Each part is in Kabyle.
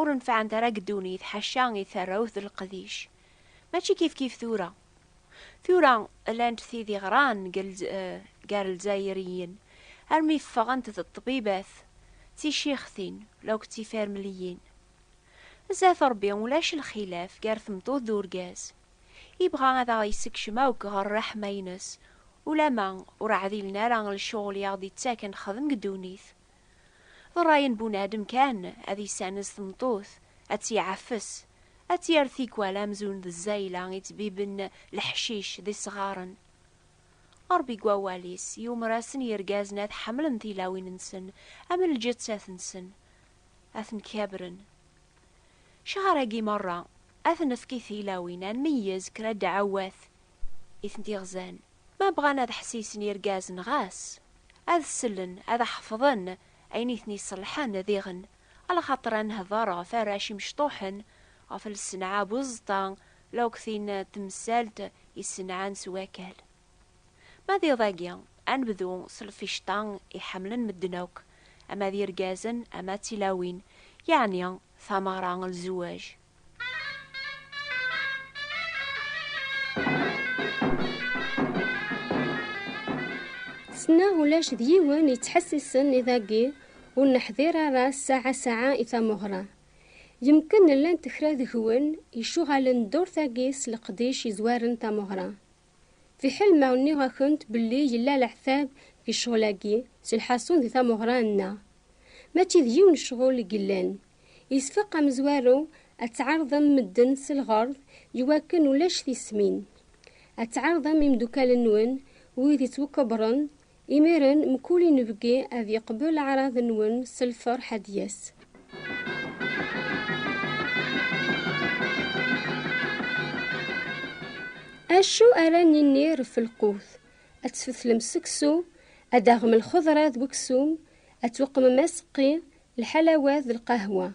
Ur nefɛent ara deg ddunit ḥaca i tarrawt d leqdic. Mačči kifkif tura. Tura llant tid i ɣran gar lezayriyen armi ffɣent d ṭṭbibat, d ticixtin law d tifermliyin. Zdat Rebbi ulac lxilaf gar tmeṭṭut d urgaz. Ibɣa ad aɣ-yessekcem akk ɣer rreḥma-ines, ulamma ur ɛdilen ara lecɣel i aɣ-d-ittaken xdem deg ddunit. D ṛṛay n bunadem kan ad yessanez tmeṭṭut, ad tt-iɛeffes, ad tt-yerr tikwal amzun d zzayla i ttbiben leḥcic d isɣaren. Ṛebbi deg wawal-is yumer-asen i yergazen ad ḥemmlen tilawin-nsen am lǧettat-nsen, ad ten-kabren. Ccehr-agi meṛṛa ad t-nefk i tilawin, ad nmeyyez kra ddeɛwat I tent-iɣzan, ma bɣan ad ḥsisen yirgazen ɣas ad sellen ad ḥefḍen ayen i ten-iṣelḥen diɣen, lxaṭer ad nehder ɣef arrac imecṭuḥen, ɣef lsenɛa buẓeṭṭa lewqtin n temsalt isenɛan s wakal. Ma d iḍ-agi, ad nebdu s lficṭa i ḥemmlen medden akk, ama d irgazen ama d tilawin, yeɛni tameɣra n lzewwaj. Sneɣ ulac d yiwen yettḥessisen i dagi ur neḥdir ara ssaɛa ssaɛa i tameɣra. Yemken llant kra deg-wen icuɣalen ddurt-agi s leqdic yezwaren tameɣra. Fiḥel ma nniɣ-akent belli yella leɛtab deg ccɣel-agi s lḥasun di tamuɣra-nneɣ, mačči d yiwen ccɣel i yellan. Yesfeq amezwaru ad tɛerḍem medden s lɣerḍ iwakken ulac tismin. Ad tɛerḍem imeddukal-nwen wid yettwakebren Imiren mkul inebgi ad yeqbel aɛraḍ-nwen s lferḥ ad d-yas. Acu ara ninni ref lqut? Ad tfetlem seksu, ad d-taɣem lxeḍra d weksum, ad tweqmem aseqqi, lḥalawat d lqahwa.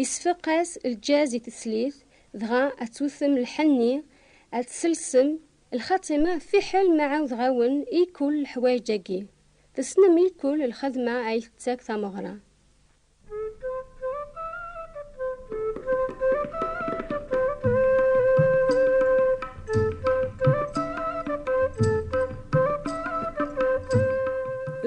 Isfeq-as lǧaz i teslit, dɣa ad twtem lḥenni, ad tselsem, Lxatima fiḥel ma ɛawdeɣ-awen i kul leḥwayeǧ-agi, tessnem i kul lxedma ay tettak tameɣra.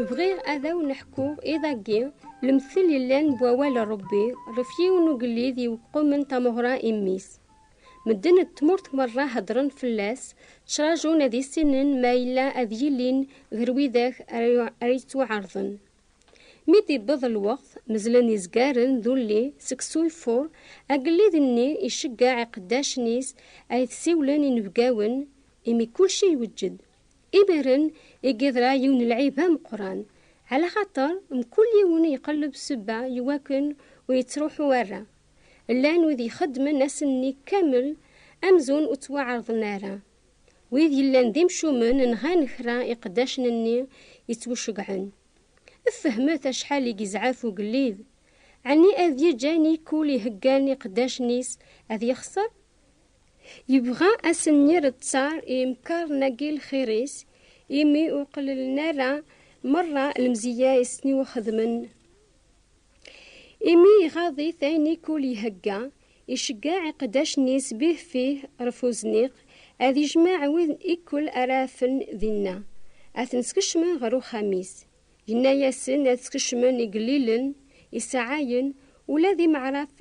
Bɣiɣ ad awen-ḥku iḍ-agi lemtel yellan n wawal n Rebbi ɣef yiwen ugellid yewqqumen tameɣra i mmi-s. Medden n tmurt merra heddren fell-as, ttrajun ad issinen ma yella ad yilin ger widak ara yettwaɛerḍen. Mi d-iwweḍ lweqt, mezzlen izgaren d ulli seg Suyfur, agellid-nni iceggeɛ iqeddacen-is a it-siwlen inebgawen, imi kulci iweǧǧed. Imiren i yeḍra yiwen lɛib ameqqran, ɛlaxaṭer mkul yiwen iqelleb sebba iwakken ur yettruḥu ara. Llan wid ixeddmen ass-nni kamel amzun ur ttwaɛerḍen ara. Wid yellan d imcumen nɣan kra iqeddacen-nni yettwceggɛen. Fehmet acḥal i yezɛef ugellid! Ɛni ad yeǧǧ ayen i kul iheggan iqeddacen-is ad yexser? Yebɣa ad sen-yerreţţar i yimekkaṛen-agi lxiṛ-is, imi ur qelllen ara meṛṛa lemzeyya i sen-iwxedmen. Imi iɣaḍ-it ayen i kul ihegga, iceggeɛ iqeddacen-is bihfih ɣef uzniq, ad yejmeɛ wid i kul ara afen dinna, ad ten-skecmen ɣer uxxam-is. Yenna-yasen ad skecmen igellilen, isaɛayen, ula d imeɛraf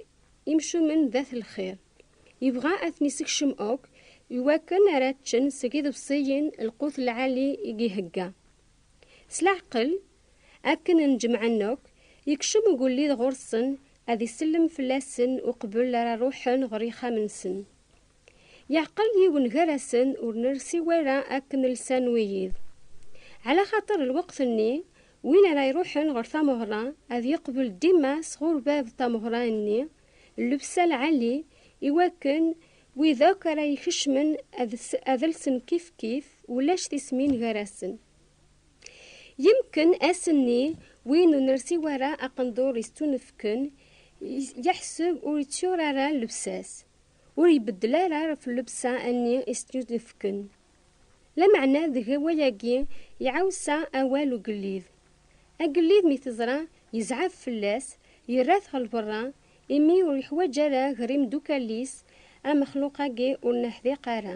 imcumen d at lxir. Yebɣa ad ten-isekcem akk, iwakken ara ččen seg iḍebsiyen lqut lɛali i ihegga. S leɛqel, Akken n jemɛen akk, yekcem ugellid ɣur-sen ad isellem fell-asen uqbel ara ruḥen ɣer yixxamen-nsen. Yeɛqel yiwen gar-asen ur nersi wara akken lsan wiyiḍ. Ɛla xaṭer lweqt-nni, win ara iruḥen ɣer tameɣra ad yeqbel dima sɣur bab tameɣra-nni llebsa lɛali i wakken wid akk ara ikecmen ad lsen kifkif ulac tismin gar-asen. Yemken ass-nni win ur nersi wara aqendur yestunefken yeḥseb ur yettur ara llebsa-s, ur ibeddel ara ɣef llebsa-nni i s-tunefken. Lameɛna deg wayagi iɛawsa awal ugellid. Agellid mi t-iẓra yezɛef fell-as, yerra-t ɣer lberra, imi ur yeḥwaǧ ara ger imeddukal-is amexluq-agi ur neḥdiq ara.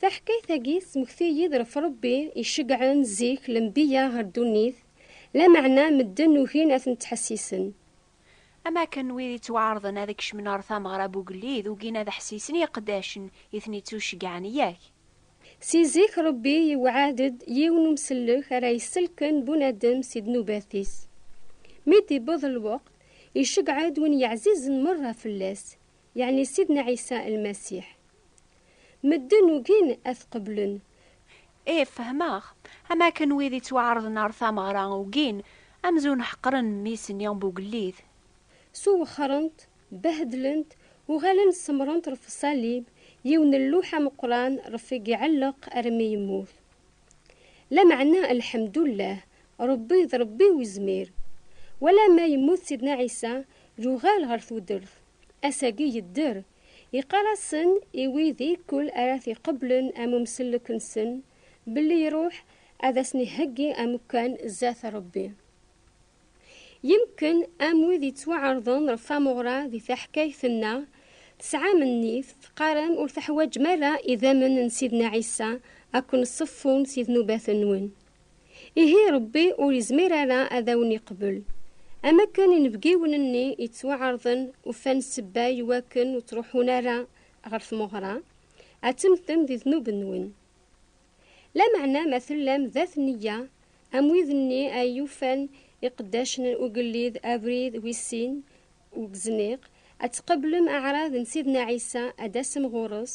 Taḥkayt-agi tesmekti-yi-d ɣef Ṛebbi iceggɛen zik lenbiya ɣer ddunit, lameɛna medden ugin ad ten-ttḥessisen. Am wakken wid yettwaɛerḍen ad kecmen ɣer tameɣra n ugellid ugin ad ḥessisen i iqeddacen i ten-ittuceggɛen, yak? Si zik Ṛebbi yewɛed-d yiwen n umsellek ara yesselken bunadem si ddnubat-is. Mi d-iwweḍ lweqt, iceggeɛ-d win yeɛzizen meṛṛa fell-as, yeɛni Sidna Ɛisa Lmasiḥ. Medden ugin ad t-qeblen. Ih, fehmeɣ. Am akken wid ittwaɛerḍen ɣer tameɣra ugin, amzun ḥeqren mmi-s n Yambugellit. Suwexrent, behdlent, uɣalent semrent ɣef ṣalib, yiwen n lluḥ ameqqran ɣef i iɛelleq armi yemmut. Lameɛna, lḥemdullah, Rebbi d Rebbi Wezmir. Wala ma yemmut Sidna Ɛisa, yuɣal ɣer tudert. Ass-agi yedder. Yeqqar-asen i wid i kkul ara t-iqeblen am umsellek-nsen, belli iruḥ ad asen-iheggi amekkan zdat Rebbi. Yemken am wid yettwaɛerḍen ɣef tamuɣra di taḥkayt-nneɣ, tesɛam nnif, teqqarem ur teḥwaǧem ara idammen n Sidna Ɛisa ad ken-ṣeffun si dnubat-nwen. Ihi Ṛebbi ur izmir ara ad awen-iqbel. Am akken inebgiwen-nni yettwaɛerḍen ufan ssebba i wakken ur ttruḥun ara ɣer tmeɣra, ad temmtem di ddnub-nwen. Lameɛna ma tellam d at nneyya, am wid-nni ay yufan iqeddacen n ugellid abrid wis sin u wezniq, ad tqeblem aɛraḍ n Sidna Ɛisa ad d-tasem ɣur-s,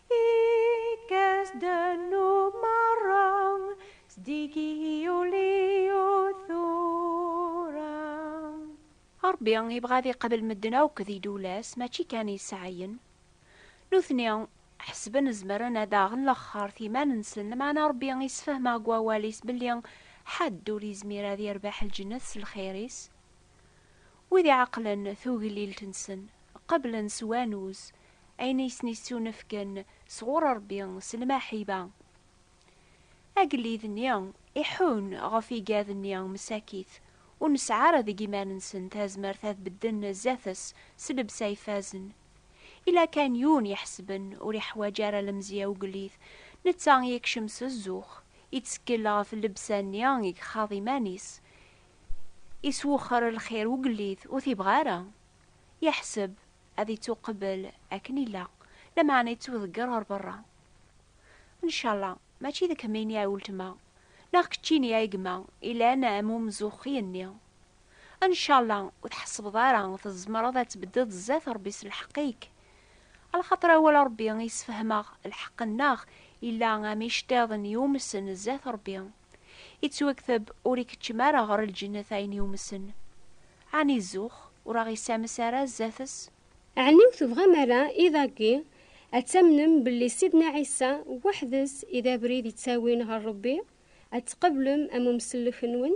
Ṛebbi ibɣa ad iqabel medden akk di ddewla-s, mačči kan iseɛɛiyen. Nutni ḥesben zemren ad aɣen laxert iman-nsen, lameɛna Ṛebbi isefhem-aɣ deg Wawal-is belli ḥedd ur yezmir ad yerbeḥ lǧennet s lxir-is. Wid iɛeqlen tuglilt-nsen, qeblen s wanuz ayen i sen-yettunefken sɣur Ṛebbi s lmaḥiba. Agellid-nni iḥun ɣef igad-nni msakit, ur nesɛi ara deg iman-nsen tazmert ad bedden zdat-s s llebsa ifazen. Yella kan yiwen iḥesben ur iḥwaǧ ara lemzeyya ugellid, netta yekcem s zzux, yettkel ɣef llebsa-nni i gxaḍ iman-is, iswexxer lxir ugellid ur t-ibɣi ara. Yeḥseb ad ittuqebbel akken illa, lameɛna ittuḍegger ɣer berra. Ncalla mačči d kemmini ay weltma, neɣ keččini ay gma ilan am umzuxxi-nni. Ncalla ur tḥessbeḍ ara tzemreḍ ad tbeddeḍ zdat Rebbi s lḥeqq-ik. Alxaṭer awal Rebbi yessefhem-aɣ lḥeqq-nneɣ illa am iceṭṭiḍen yumsen zdat Rebbi. Ittwakteb, Ur ikeččem ara ɣer lǧennet ayen yumsen. Ɛni zzux, ur aɣ-issames ara zdat-s? Ɛni ur tebɣam ara i dagi ad tamnem belli Sidna Ɛisa weḥd-s i d abrid yettawin ɣer Rebbi, ad tqeblem am umsellek-nwen?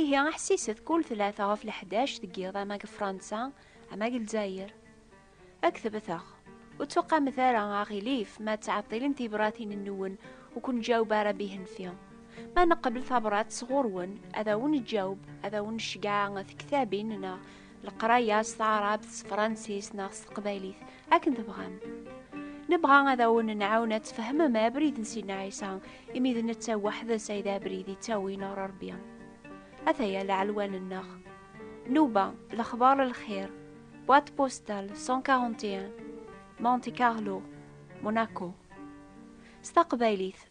Ihi ḥsiset kul tlata ɣef leḥdac deg yiḍ ama deg Fransa ama deg Lezzayer. Ad k-tebteɣ. Ur ttuqamet ara, aɣilif, ma ttɛeṭṭilen tibratin-nwen ur ken-ǧaweb ara bihenfi. Ma neqbel tabrat sɣur-wen, ad awen-ǧǧaweb, ad awen-ceggɛeɣ tektabin neɣ leqraya s taɛrabt s tefransist neɣ s teqbaylit akken tebɣam nebɣa ad awen-nɛawen ad tfehmem abrid n Sidna Ɛisa imi d netta weḥd-s ay d abrid yettawin ɣer Rebbi ataya leɛlwan-nneɣ Nuba lexbar n lxir boîte postale 141 Monte Carlo Monaco s taqbaylit